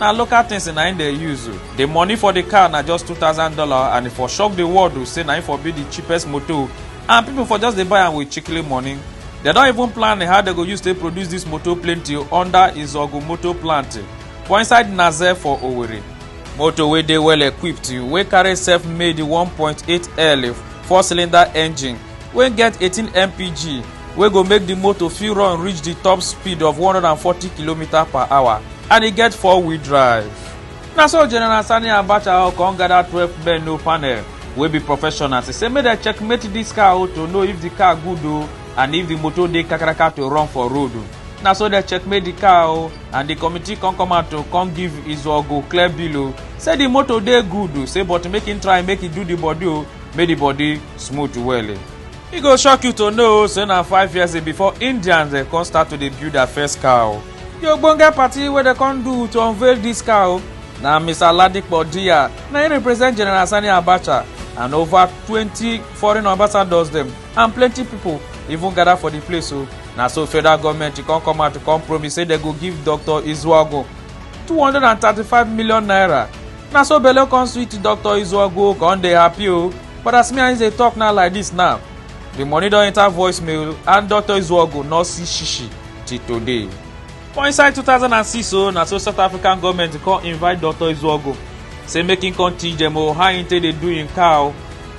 na local things na im dey use o the money for the car na just two thousand dollar and e for shock the world o say na im for be the cheapest motor and people for just dey buy am with chikili money They don even plan how they go use take produce this motor plenty under Izogu motor plant for inside Naze for Owerri. Motor wey dey well equipped wey carry self-made 1.8L four-cylinder engine wey get 18 mpg wey go make di motor fit run reach di top speed of 140km per hour and e get four wheel drive na so general sani abacha come gather 12 men no panel wey be professionals e say make dem checkmate dis car o to know if di car good o and if di motor dey kakaraka to run for road o na so dem checkmate di car o and di committee come come out to come give izuogo clear bill o say di motor dey good o say but make im try make e do di body o make di body smooth well. e go shock you to know say na five years before indians dem come start to dey build their first car o di ogbonge party wey dem come do to unveil dis car o na mr ladipo diya na im represent general sani abacha and over twenty foreign ambassadors dem and plenty pipo even gather for di place o na so federal goment come come out come promise say dem go give dr izuagu two hundred and thirty-five million naira na so belle come sweet dr izuogu come dey happy o but as me and him dey talk now like this now the money don enter voicemail and dr izuogu no see shishi till today. for inside 2006 o na so south african goment come invite dr izuogu say make him come teach dem o how him take dey do him car o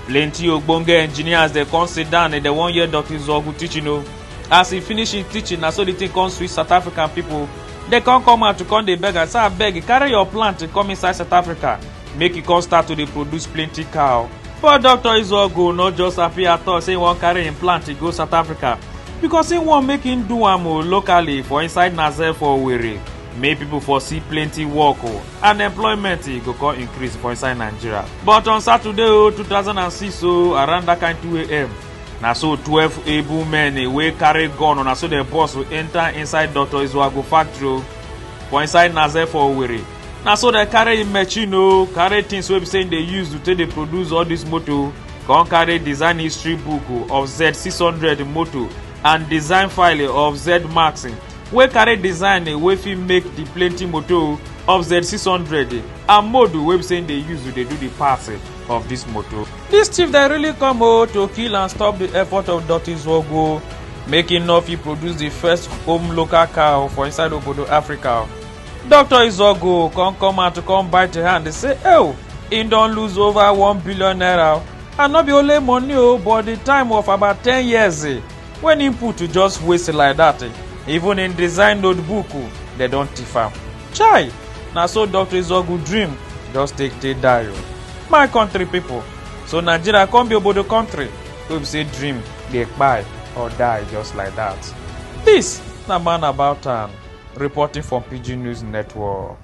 plenty ogbonge engineers dey come sit down and dem wan hear dr izuogu teaching o as he finish him teaching na so the thing come sweet south african people They come come out to come dey beg am say abeg carry your plant come inside South Africa make e come start to dey produce plenty cow. But Dr. Izuogu no just happy at all say he wan carry im plant go South Africa because he wan make him do am o locally for inside Naze for Owerri make people for see plenty work o and employment e go come increase for inside Nigeria. But on Saturday o 2006 o around that kind 2am na so twelve able men eh, wey carry gun una so dem boss will enter inside dr izuagu factory o oh. for inside naze for owerri na so dem carry im machine o oh. carry things wey be say im dey use to take dey produce all this motor oh. come carry design history book of z six hundred motor and design file of z max wey carry design wey fit make the plenty motor of z six hundred and motor wey be say im dey use to dey do the parts of this motor. Dis thief dem really come o to kill and stop di effort of Dotty Zwogo make im no fit produce di first home local cow for inside obodo Africa. Dr. Izogo come come out to come bite her hand dey say, "Oh, im don lose over one billion naira and no be only money o but di time of about ten years eh, when im put to just waste like dat eh, even im design notebook oh, dem don thief am." chai na so dr izogu dream just take take die o my country people so nigeria come be obodo country wey be say dream dey kpai or die just like that this na man about town reporting from pidgin news network.